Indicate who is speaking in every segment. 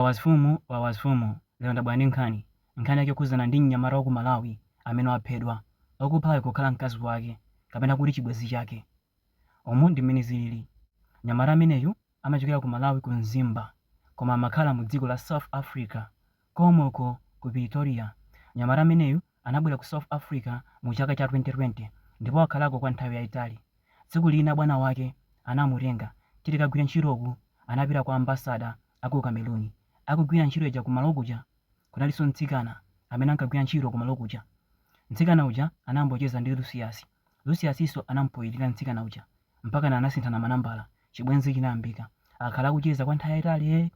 Speaker 1: Wawas fumu wawas fumu lero ndabwera ndi nkhani, nkhani yake yokhudzana ndi mnyamata wa ku Malawi amene waphedwa, okuphayo kukhala mkazi wake kapena kuti chibwenzi chake. Umu ndi mmene zilili, mnyamata ameneyu amachokera ku Malawi ku Mzimba koma amakhala mu dziko la South Africa komweko ku Pretoria. Mnyamata ameneyu anabwera ku South Africa mu chaka cha 2020 ndipo wakhalako kwa nthawi yaitali. Tsiku lina bwana wake anamutenga kuti kagwire ntchito, uku anapita kwa ambassador. a ku Cameroon akugwira ntchito ija kumalo kuja, kunalinso mtsikana amene ankagwira ntchito kumalo kuja. Mtsikana uja anayambocheza ndi Lucius, Lucius-nso anampoyirira mtsikana uja mpakana anasinthana manambala, chibwenzi chinayambika. Akhala akucheza kwa nthawi yaitali ee!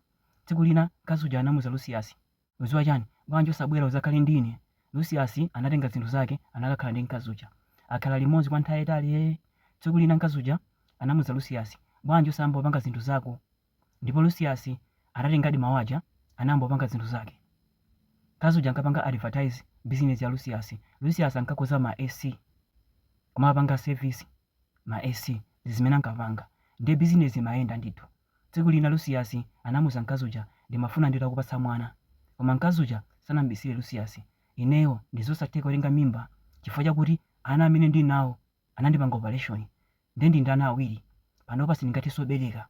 Speaker 1: Tsiku lina mkazi uja anamuza Lucius, udziwa chani, bwanji osabwera udzakhale ndi ine? Lucius anatenga zinthu zake anakakhala ndi mkazi uja. Akhala limodzi kwa nthawi yaitali ee! Tsiku lina mkazi uja anamuza Lucius, bwanji osayamba kupanga zinthu zako? Ndipo Lusiyasi anatengadi mawu aja, anayamba kupanga zinthu zake. Mkazi uja ankapanga advertise bizinezi ya Lusiyasi. Lusiyasi ankakonza ma AC, kumawapanga service ma AC, ndi zimene ankapanga. Ndiye bizinezi imayenda ndithu. Tsiku lina Lusiyasi anamuuza mkazi uja, Ndimafuna nditakupatsa mwana. Koma mkazi uja sanam'bisire Lusiyasi, Ineyo ndi zosatheka kutenga mimba chifukwa chakuti ana amene ndili nawo anandipanga opaleshoni nde ndili ndi ana awiri, panopa sindingathenso kubereka.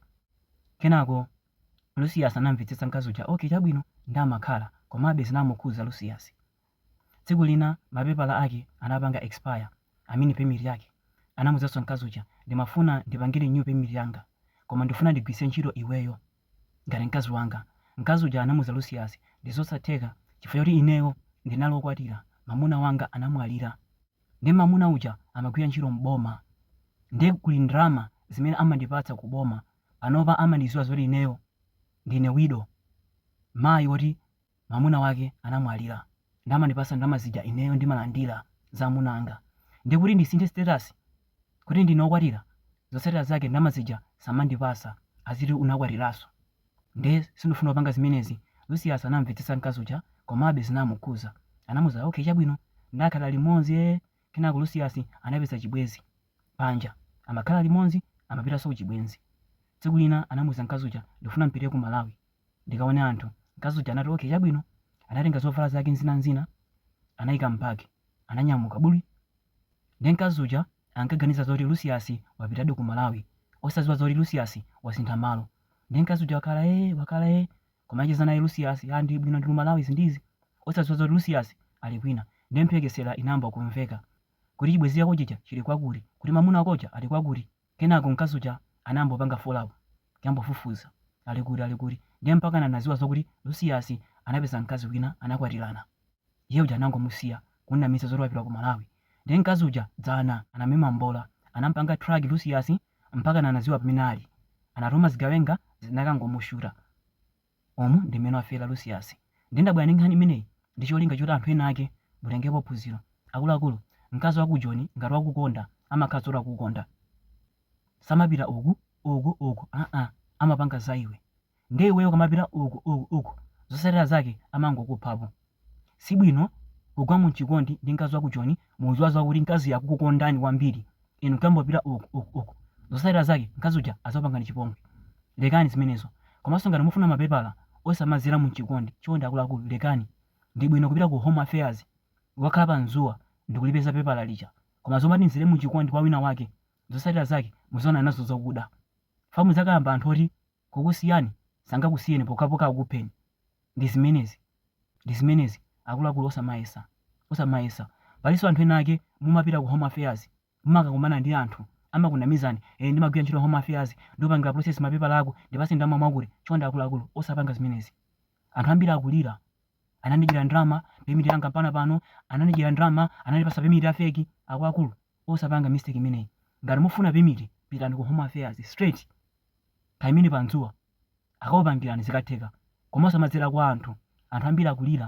Speaker 1: Kenako Lucius anamvetsetsa mkazi uja ok chabwino nde amakhala komabe zinamukhuza Lucius. Tsiku lina mapepala ake anapanga expire I mean permit yake. Anamuuzanso mkazi uja ndimafuna ndipange renew permit yanga koma ndifuna ndigwiritse ntchito iweyo. ngati mkazi wanga. Mkazi uja anamuza Lusiyasi, ndizosatheka chifukwa choti ineyo ndinali okwatira mamuna wanga anamwalira nde mamuna uja amagwira ntchito m'boma nde kuli ndalama zimene amandipatsa ku boma panopa amandiziwa zoti ineyo ndine widow mayi oti mwamuna wake anamwalira nde amandipasa ndalama zija ineyo ndimalandira za amuna anga ndiye kuti ndisinthe status kuti ndine okwatira zotsatira zake ndalama zija sazandipasa aziti unakwatiraso nde sindifuna kupanga zimenezi Lucius anamvetsetsa mkazi uja komabe zinamukhuza anamuza okay chabwino nde akhala limodzi ee kenako Lucius anapeza chibwenzi panja amakhala limodzi amapitaso kuchibwenzi tsiku lina anamuza mkazi uja ndifuna mpite ku Malawi ndikaone anthu. Mkazi uja anati, Ok, chabwino. Anatenga zovala zake n'zinan'zina, anaika m'bagi, ananyamuka buli. Ndiye mkazi uja ankaganiza zoti Lucius wapitadi ku Malawi, osadziwa zoti Lucius wasintha malo. Ndiye mkazi uja wakhala ee, wakhala ee, kumacheza naye Lucius, ah, ndili bwino, ndili ku Malawi, izi ndi izi, osadziwa zoti Lucius ali kwina. Ndiye mphekesera inayamba kumveka, kuti chibwenzi chako chija chili kwakuti? kuti mamuna wako uja ali kwakuti? Kenako mkazi uja anangopanga follow up kuyambofufuza ali kuti ali kuti ndiye mpakana anaziwa zokuti Lucius anapeza mkazi wina anakwatilana iye uja anangomusiya kumnamiza zoti wapita ku Malawi ndiye mkazi uja dzana anamema mbola anampanga track Lucius mpakana anaziwa pamene ali anatuma zigawenga zinakangomushuta Umu ndi mmene wafera Lucius. Ndiye ndabwera ndi nkhani imeneyi ndi cholinga choti anthu ena ake mutengepo phunziro. Akuluakulu, mkazi waku Joni ngati wakukonda amakhala zoti wakukonda. Samapita uku, uku, uku aa amapanga za iwe. Ndiye iweyo ukamapita uku, uku, uku zotsatira zake amangokuphapo. Si bwino kugwa mu chikondi ndi mkazi wa ku Joni mukudziwa za kuti mkaziyo akukukondani kwambiri, inu nkuyambopita uku, uku, uku. Zotsatira zake mkazi uja adzakupangani chipongwe. Lekani zimenezo. Komanso ngati mufuna mapepala osamadzera mu chikondi, chonde akuluakulu lekani. Ndi bwino kupita ku Home Affairs kukakhala padzuwa ndikulipeza pepala lija. Koma zomati mdzere mu chikondi kwa wina wake, zotsatira zake mudzaonana nazo zakuda. Chifukwa muzakayamba anthu oti kukusiyani sangakusiyeni pokhapokha akukupheni. Ndi zimenezi. ndi zimenezi akuluakulu osamayesa osamayesa palinso anthu ena ake mumapita ku home affairs mumakakumana ndi anthu amakunamizani ee ndimagwira ntchito home affairs ndikupangira process mapepala ako ndipase ndalama mwakuti chonde akuluakulu osapanga zimenezi anthu ambiri akulira anandidyera ndalama pemiti yanga mpaka pano anandidyera ndalama anandipasa pemiti ya feki akuluakulu osapanga mistake imeneyi ngati mufuna pemiti pitani ku home affairs straight kaimeni padzuwa akakupangirani zikatheka koma osamadzera kwa anthu, anthu ambiri akulira.